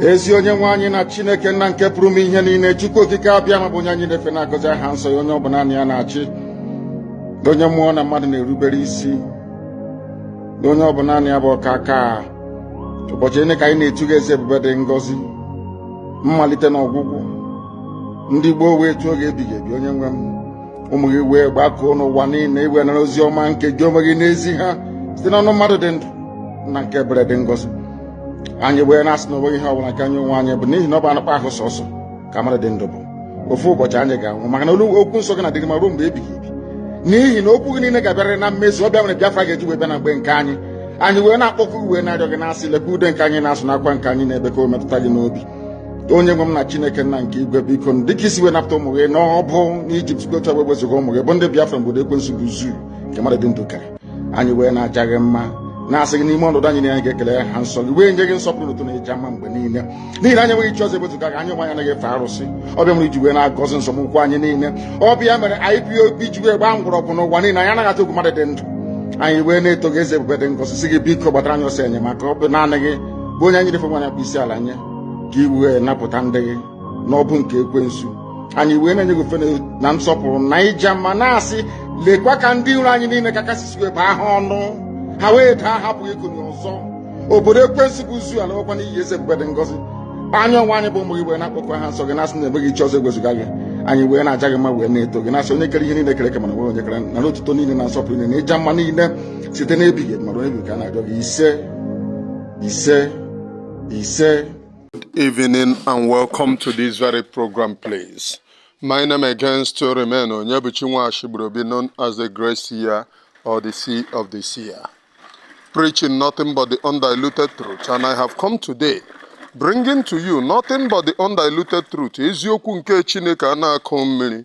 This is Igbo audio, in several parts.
ezi onye nwe anyị na chineke nna nke pụrụ ime ihe niile chukwu okike abịama bụ onye anyị na-efe na-agọzi aha nsọ ya onye ọ bụ naanị ya na-achị onye mmụọ na mmadụ na-erubere isi onye ọ bụ naanị ya bụ ọkaka ụbọchị niile ka anyị na-etu gị eze ebube dị ngọzi mmalite na ọgwụgwụ ndị gboo wee tuo gị ebighị ebi onye nwe m ụmụ gị wee gbakọọ n'ụwa niile i wee nara ozi ọma nke gị onwe gị na-ezi ha site n'ọnụ mmadụ dị ndụ nna nke ebere dị ngọzi anyị wee na-asị na onweghị ihe ọbụla nke anyị onwe anyị bụ n'ihi na ọ bụ anụkpa ahụ sọsọ ka mmadụ dị ndụ bụ ofu ụbọchị anyị ga-anwụ maka na olu okwu nsọ gị na-adịrị ma ruo mgbe ebighị ebi n'ihi na okwu gị niile ga-abịarịrị na mmezu ọ bụ ya mere Biafra ga-eji wee bịa na mgbe nke anyị anyị wee na-akpọku gị wee na-arịọ gị na-asị lekwa ude nke anyị na-asụ na akwa nke anyị na-ebe ka o metụta gị n'obi onye nwe m na chineke nna nke igwe biko dịka i si wee napụta ụmụ gị n'ọbụ n'ijipt gotu wee wezuga ụmụ gị bụ ndị biafra n'obodo ekwensu bụ zoo nke mmadụ dị ndụ kere anyị wee na-aja gị mma na-asị gị n'ime ọnọdụ anyị na anyị ga-ekele aha nsọ gị wee nye gị nsọpụrụ otuto na ịja mma mgbe niile n'ihi na anyị enweghị chi ọzọ ewezuga gị anyị onwe anyị anaghị efe arụsị ọ bụ ya mere i ji wee na-agọzi nzọụkwụ anyị niile ọ bụ ya mere IPOB ji wee gbaa mgbọrọgwụ n'ụwa niile anyị anaghị atụ egwu mmadụ dị ndụ anyị wee na-eto gị eze ebube dị ngọzi sị gị biko gbatara anyị ọsọ enyemaka ọ bụ naanị gị bụ onye anyị na-efe onye anyị na-akpọ isi ala nye ka i wee napụta ndị gị n'ọbụ nke ekwensu anyị wee na-enye gị ofe na nsọpụrụ na ịja mma na-asị lekwa ka ndị iro anyị niile ka ka i si wee bụọ ha ọnụ ha wee daa ha apụghị ikuni ọzọ obodo ekwensu bụ zoo alawokwa n'iyi eze ebube dị ngọzi anyị onwe anyị bụ ụmụ gị wee na-akpọku aha nsọ gị na-asị na enweghị chi ọzọ ewezuga gị anyị wee na-aja gị mma wee na-eto gị na-asị onye kere ihe niile e kere eke mana enweghị onye kere nara otuto niile na nsọpụrụ niile na ịja mma niile site n'ebighị ebi ma ruo ebi ka a na-arịọ gị ise ise ise Good evening and welcome to this very program please my name again still remain Onyebuchi Nwashigburobi known as the Great Seer or the Seer of the Seer preaching nothing but the undiluted truth and I have come today bringing to you nothing but the undiluted truth eziokwu nke chineke a na-akụ mmiri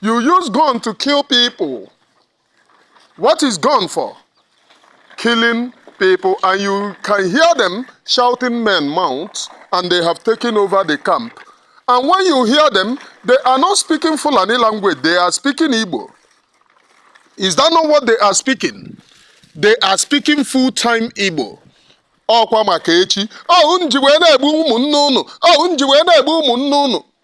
You use gun to kill people. What is gun for? Killing people, and you can hear them shouting, Men mount, and they have taken over the camp. And when you hear them, they are not speaking Fulani language, they are speaking Igbo. Is that not what they are speaking? They are speaking full time Igbo. ọkwa maka echi ọhụ nji wee na-egbu ụmụnne ụnụ ọhụ nji wee na-egbu ụmụnne ụnụ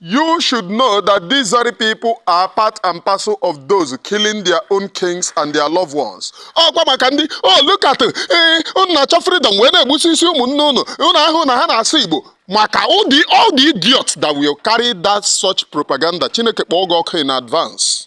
You should know that these very people are part and parcel of those killing their own kings and their loved ones. ọkwa maka ndị oh look at ee unu na-achọ freedom wee na-egbusisi ụmụnne unu unu ahụ na ha na-asụ igbo maka all the all the idiots that will carry that such propaganda chineke kpọọ gị ọkụ in advance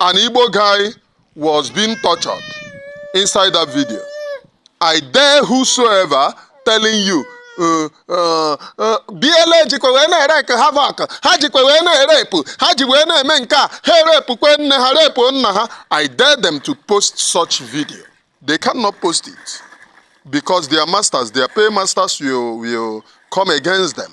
an Igbo guy was being tortured inside that video. I dare whosoever telling you uh, uh, uh, BLA jikwa wee na-ewreak havoc ha jikwa wee na-erepụ ha ji wee na-eme nke a ha erepụkwe nne ha repụ nna ha I dare them to post such video they cannot post it because their masters their paymasters will, will come against them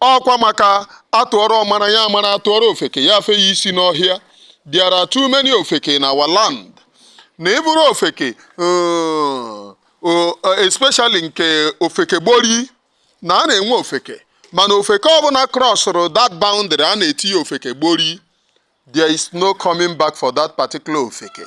ọkwa maka atụọrọ ọmara ya amara atụọrọ ofeke ya afe ya isi n'ọhịa there are too many ofeke in our land na ị bụrụ ofeke uh, uh, especially nke ofeke gbori na a na-enwe ofeke mana ofeke ọbụla crossụrụ that boundary a na-eti ya ofeke gbori there is no coming back for that particular ofeke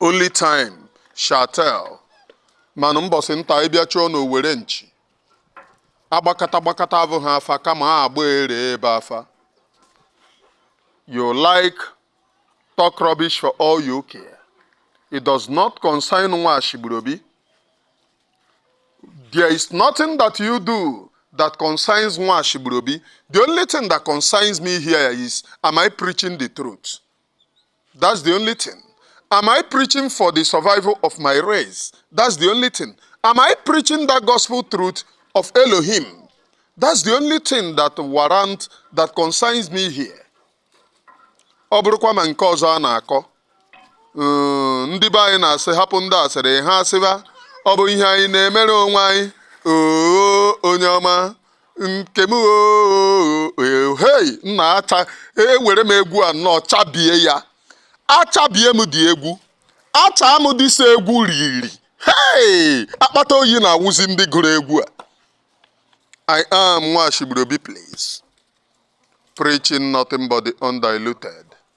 Only time shall tell. Manụ mbọsị nta ị bịa chụọ n'owere nchi. Agbakata gbakata abụ ha afa kama a agba ere ebe afa. You like talk rubbish for all you care. It does not concern Nwashigburobi. There is nothing that you do that concerns Nwashigburobi. The only thing that concerns me here is am I preaching the truth? That's the only thing. Am I preaching for the survival of my race? That's the only thing. Am I preaching that gospel truth of Elohim? That's the only thing that warrant that concerns me here. Ọ bụrụkwa ma nke ọzọ a na-akọ uh, ndị be anyị na-asị hapụ ndị asịrị ha asịba ọ bụ ihe anyị na-emere onwe anyị oo onye ọma nke m hei nna acha ewere m egwu a nnọọ chabie ya achabie m dị egwu acha m dịsa egwu riri hei akpata oyi na-awụzi ndị gụrụ egwu a I am Nwashigburobi, please. Preaching nothing but the undiluted.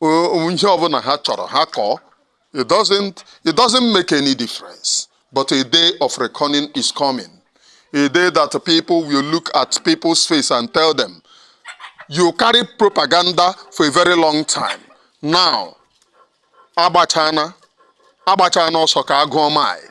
O- ihe ọbụla ha chọrọ ha kọọ it doesn't it doesn't make any difference but a day of reckoning is coming a day that people will look at people's face and tell them you carry propaganda for a very long time now agbachana agbachana ọsọ ka a gụọ mile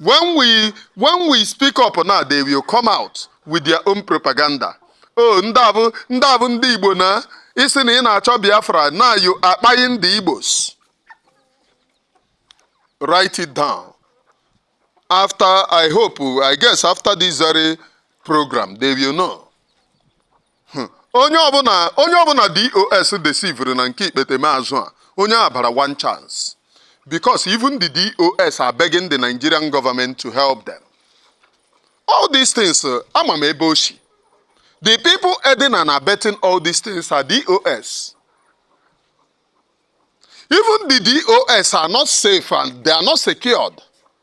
when we when we speak up now they will come out with their own propaganda oh ndị a bụ ndị a bụ ndị igbo na ị sị na ị na-achọ biafra now you are kpaing the igbos write it down after i hope i guess after this very program they will know Hmm. onye ọbụla onye ọbụla dos deceivere na nke ikpeteme azụ a onye a bara one chance because even the dos are begging the nigerian government to help them all these things uh, ama m ebe o shi the people aiding and abetting all these things are dos even the dos are not safe and they are not secured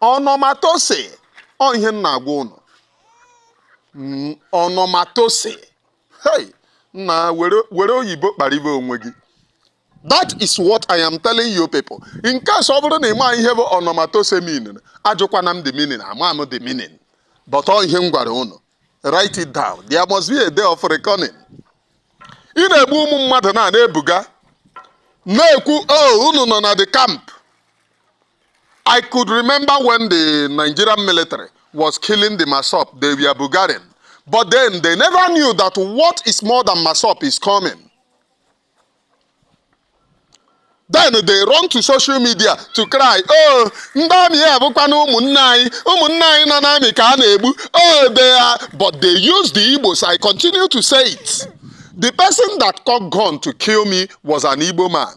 ọnọmatose ọ ihe m na-agwa unu Mm, ọnọmatose hey nna were were oyibo kparibe onwe gị that is what i am telling you people in case ọ bụrụ na ị ma ihe bụ ọnọmatose meaning ajụkwana m the meaning ama m the meaning but ọ ihe m gwara ụnụ write it down there must be a day of reckoning ị na-egbu ụmụ mmadụ na na-ebuga na-ekwu oh unu nọ na the camp I could remember when the Nigerian military was killing the Masop, they were Bulgarian. But then they never knew that what is more than Masop is coming. then they run to social media to cry oh ndị amị ya bụkwana ụmụnne anyị ụmụnne anyị nọ n'amị ka a na-egbu oh they are but they use the Igbos I continue to say it the person that got gun to kill me was an Igbo man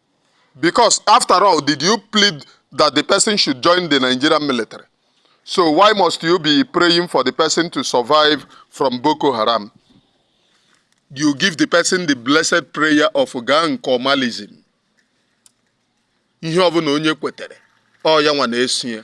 Because after all, did you plead that the person should join the Nigerian military? So why must you be praying for the person to survive from Boko Haram? You give the person the blessed prayer of Gankomalism. Ihe ọbụla onye kwetere, ọ ya nwa na-eso ya.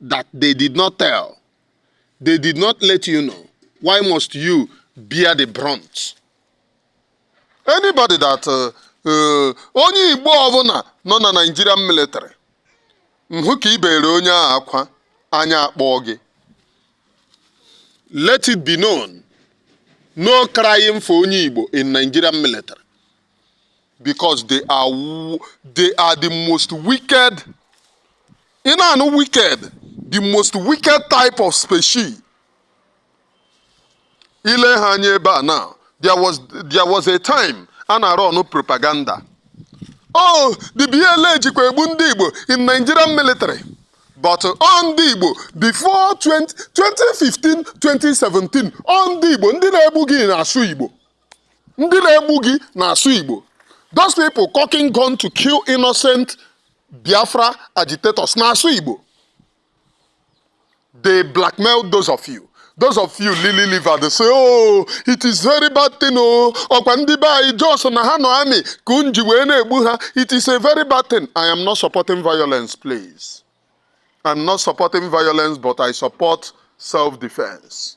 that they did not tell. They did not let you know. Why must you bear the brunt? Anybody that uh, uh, onye Igbo ọbụla nọ na Nigerian military m hụ ka i bere onye a akwa anya akpọọ gị let it be known no crying for onye Igbo in Nigerian military because they are they are the most wicked ị na-anụ wicked the most wicked type of species i lee ha anya ebe a now there was there was a time a na-arun propaganda oh the BLA jikwa egbu ndị Igbo in Nigerian military but ọ ndị Igbo before 20, 2015 2017 ọ ndị Igbo ndị na-egbu gị na-asụ Igbo ndị na-egbu gị na-asụ Igbo those people cocking gun to kill innocent Biafra agitators na-asụ Igbo they blackmail those of you those of you lily liver they say oh it is very bad thing oh ọkwa ndị be anyị just na ha nọ army ka unu ji wee na-egbu ha it is a very bad thing i am not supporting violence please i'm not supporting violence but i support self-defense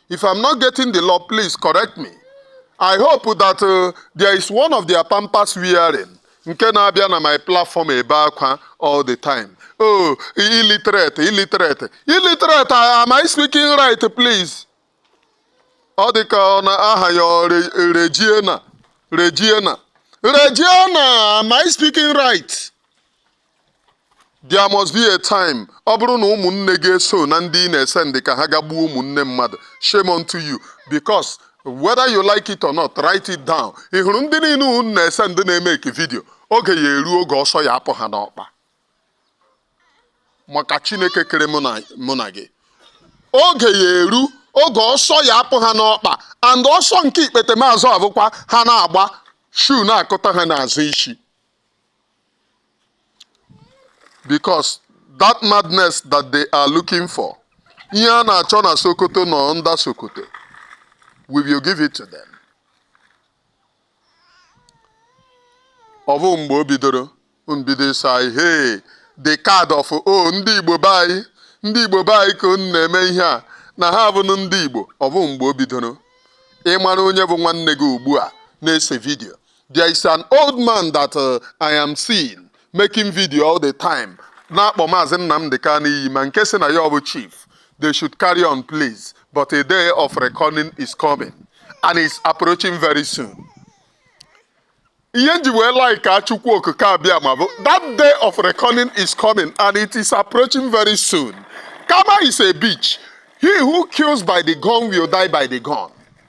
If I'm not getting the law, please correct me. I hope that uh, there is one of their pampers wearing nke na-abịa na my platform ebe akwa all the time. Oh, illiterate, illiterate, illiterate. I- Am I speaking right, please? Ọ dị ka ọ na aha ya ọ Re- Regina, Regina, Regina. Am I speaking right? There must be a time ọ bụrụ na ụmụnne gị eso na ndị ị na-esend ka ha gaa gbuo ụmụnne mmadụ shame unto you because whether you like it or not write it down ị hụrụ ndị niile unu na-esend na-emake video oge ya eru oge ọsọ ya apụ ha n'ọkpa maka Chineke kere mụ na gị oge ya eru oge ọsọ ya apụ ha n'ọkpa and ọsọ nke ikpete maazụ abụkwa ha na-agba shoe na-akụta ha n'azụ isi because that madness that they are looking for ihe a na-achọ na sokoto nọ under sokoto we will give it to them ọ bụ mgbe o bidoro mbido say hey the card of o ndị igbo be anyị ndị igbo be anyị ka unu na-eme ihe a na ha abụnụ ndị igbo ọ bụ mgbe o bidoro ịmara onye bụ nwanne gị ugbu a na-ese video There is an old man that uh, I am seeing making video all the time na-akpọ maazị Nnamdi Kanu iyi ma nke si na ya bụ chief they should carry on please but a day of reckoning is coming and it is approaching very soon. ihe m ji wee like Chukwu Okike Abịama bụ that day of reckoning is coming and it is approaching very soon. Karma is a bitch. He who kills by the gun will die by the gun.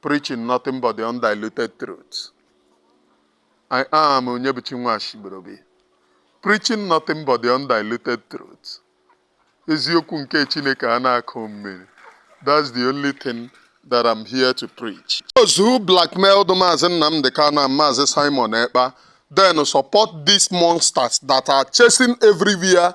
preaching nothing but the undiluted truth. I am Onyebuchi Nwashibrobi, preaching nothing but the undiluted truth. Eziokwu nke Chineke a na-akụ mmiri. That's the only thing that I'm here to preach. Those who blackmailed Mazi Nnamdi Kanu and Mazi Simon Ekpa then support these monsters that are chasing everywhere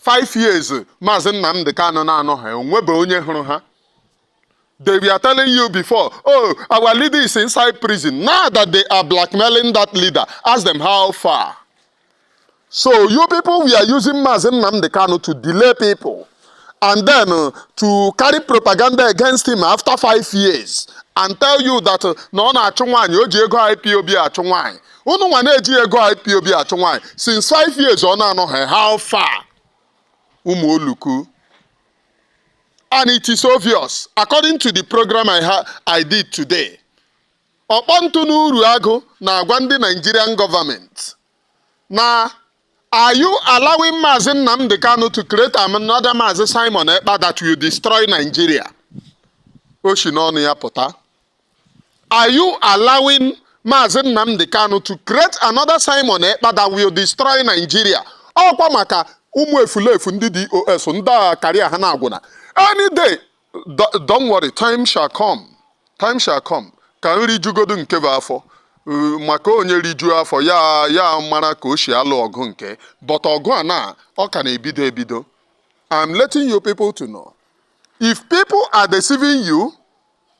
five years maazị nnamdị kanụ na-anọha o nwebe onye hụrụ ha they were telling you before oh our leader is inside prison now that they are blackmailing that leader ask them how far so you people were using maazị nnamdị kanụ to delay people and then uh, to carry propaganda against him after five years and tell you that uh, na ọ na-achụ nwaanyị o ji ego ipob achụ nwaanyị unu nwa na-eji ego IPOB achụ nwaanyị since five years ọ na-anọha how far ụmụ oluku and it is obvious according to the program I did today ọkpọntụ n'uru agụ na-agwa ndị Nigerian government na Are you allowing Mazi Nnamdi Kanu to create another Mazi Simon Ekpa that will destroy Nigeria? O shi n'ọnụ ya pụta. Are you allowing Maazị Nnamdi Kanu to create another Simon Ekpa that will destroy Nigeria? Ọ kwa maka ụmụ efulefu ndị DOS ndị career ha na-agwụna. Any day, don't worry, time shall come. Time shall come. Ka nri jugodu nke bụ afọ. Uh, maka onye rijuo afọ ya mara ka o si alụ ọgụ nke but ọgụ a na ọ ka na-ebido ebido I'm letting you people to know if people are deceiving you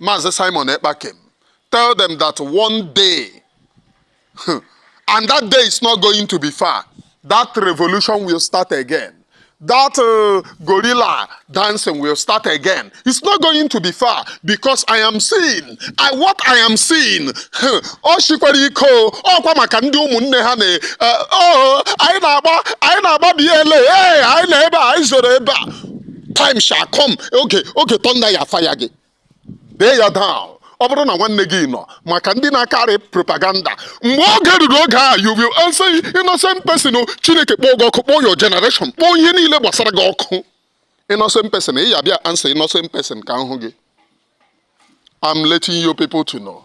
Maazị Simon Ekpa kem, tell them that one day, and that day is not going to be far, that revolution will start again. That uh, guerrilla dancing will start again. It's not going to be far because I am seeing. I what I am seeing. Ọ shikwara ike ọkwa maka ndị ụmụnne ha na eh, oh, anyị na-agba anyị na-agba BLA anyị nọ ebe a anyị zoro ebe a time shall come oge oge thunder ya fire gị dee ya down ọ bụrụ na nwanne gị nọ maka ndị na-acarry propaganda mgbe oge ruru oge a you will answer innocent person o chineke kpọọ gị ọkụ kpọọ your generation kpọọ ihe niile gbasara gị ọkụ innocent person ị ya bịa answer innocent person ka m hụ gị I'm letting you people to know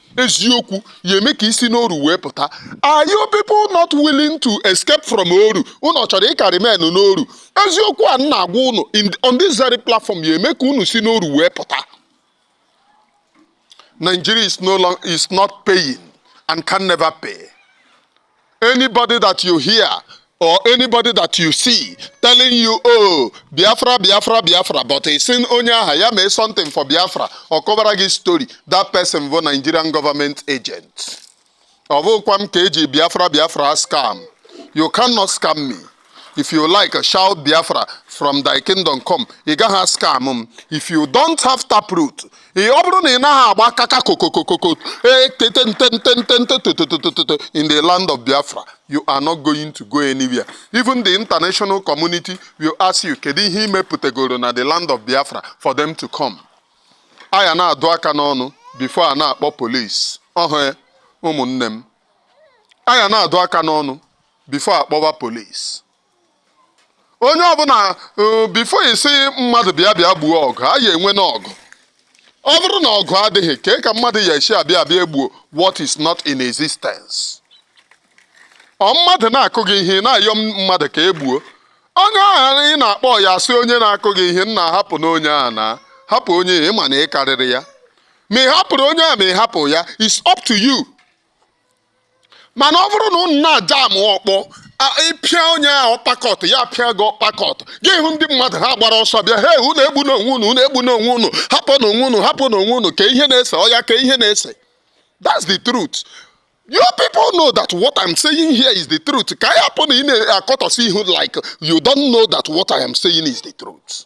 eziokwu ya eme ka i si n'oru wee pụta are you people not willing to escape from oru unu chọrọ ịka remain n'oru eziokwu a na-agwa unu on this very platform ya eme ka unu si n'oru wee pụta Nigeria is no long is not paying and can never pay Anybody that you hear or anybody that you see telling you oh biafra biafra biafra but ị sị onye aha ya mee something for biafra ọ kọbara gị story that person bụ nigerian government agent ọ bụkwa m ka e ji biafra biafra ascam you cannot scam me if you like shout biafra from thy kingdom come ị gaghị ascam m if you don't have taproot ị- ọ bụrụ na ị naghị agba kaka kokokokoko ee tete nte nte nte nte tototototo in the land of biafra you are not going to go anywhere even the international community will ask you kedu ihe i mepụtagoro na the land of biafra for them to come a ya na-adụ aka n'ọnụ before a na-akpọ police ọhụ ya, ụmụnne m a ya na-adụ aka n'ọnụ before a kpọwa police onye ọbụla uh, before ị sị mmadụ bịa bịa gbuo ọgụ a ya enwe n'ọgụ ọ bụrụ na ọgụ adịghị kee ka mmadụ ya esi abịa abịa egbuo what is not in existence ọ mmadụ na-akụ gị ihe na-ayọ mmadụ ka e gbuo onye ahụ ị na-akpọ ya asị onye na-akụ gị ihe nna hapụnụ onye a na hapụ onye ị ma na ị karịrị ya ma ị hapụrụ onye a ma ị hapụ ya it's up to you mana ọ bụrụ na unu na-ajam ọkpọ ị pịa onye ahụ uppercut ya pịa gị uppercut gị hụ ndị mmadụ ha gbara ọsọ bịa he unu egbuna onwe unu unu egbuna onwe unu hapụnụ onwe unu hapụnụ onwe unu kee ihe na-ese oya kee ihe na-ese that's the truth you people know that what i'm saying here is the truth ka ya hapụ na ị na-akọtọsi ihu like you don't know that what i am saying is the truth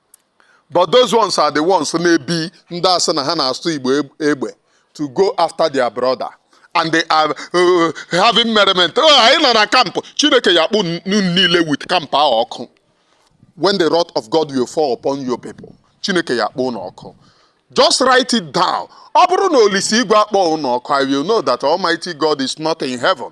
but those ones are the ones na-ebi ndị a sị na ha na-asụ igbo eg- egbe to go after their brother and they are uh, having merriment oh, anyị nọ na camp chineke ya-akpọ unu niile with camp ahụ ọkụ when the wrath of God will fall upon your people chineke ya-akpọ unu ọkụ just write it down ọ bụrụ na olise igwe akpọghị unu ọkụ i will know that almighty God is not in heaven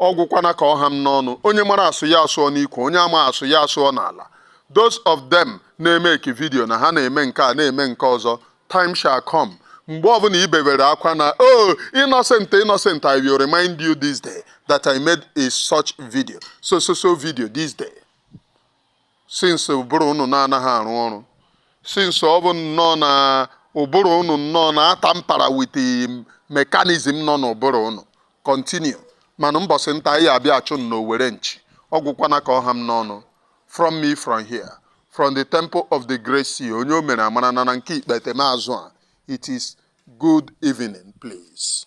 ọ gwụkwana ka ọ ha m n'ọnụ onye mara asụ ya asụọ n'ikwe onye ama asụ ya asụọ n'ala those of them na-emeke video na ha na-eme nke a na-eme nke ọzọ time shall come mgbe ọbụla i bebere akwa na oh innocent innocent i will remind you this day that i made a such video so so so video this day since ụbụrụ unu na-anaghị arụ ọrụ since ọ bụ nnọọ na ụbụrụ unu nnọọ na-ata mpara with mechanism nọ n'ụbụrụ unu continue mana mbọsị nta ya-abịa a chụọ n'owere nchi ọ gwụkwana ka ọ ha m n'ọnụ from me from here from the temple of the great seer onye o mere amara na na nke ikpete m azụ a it is good evening please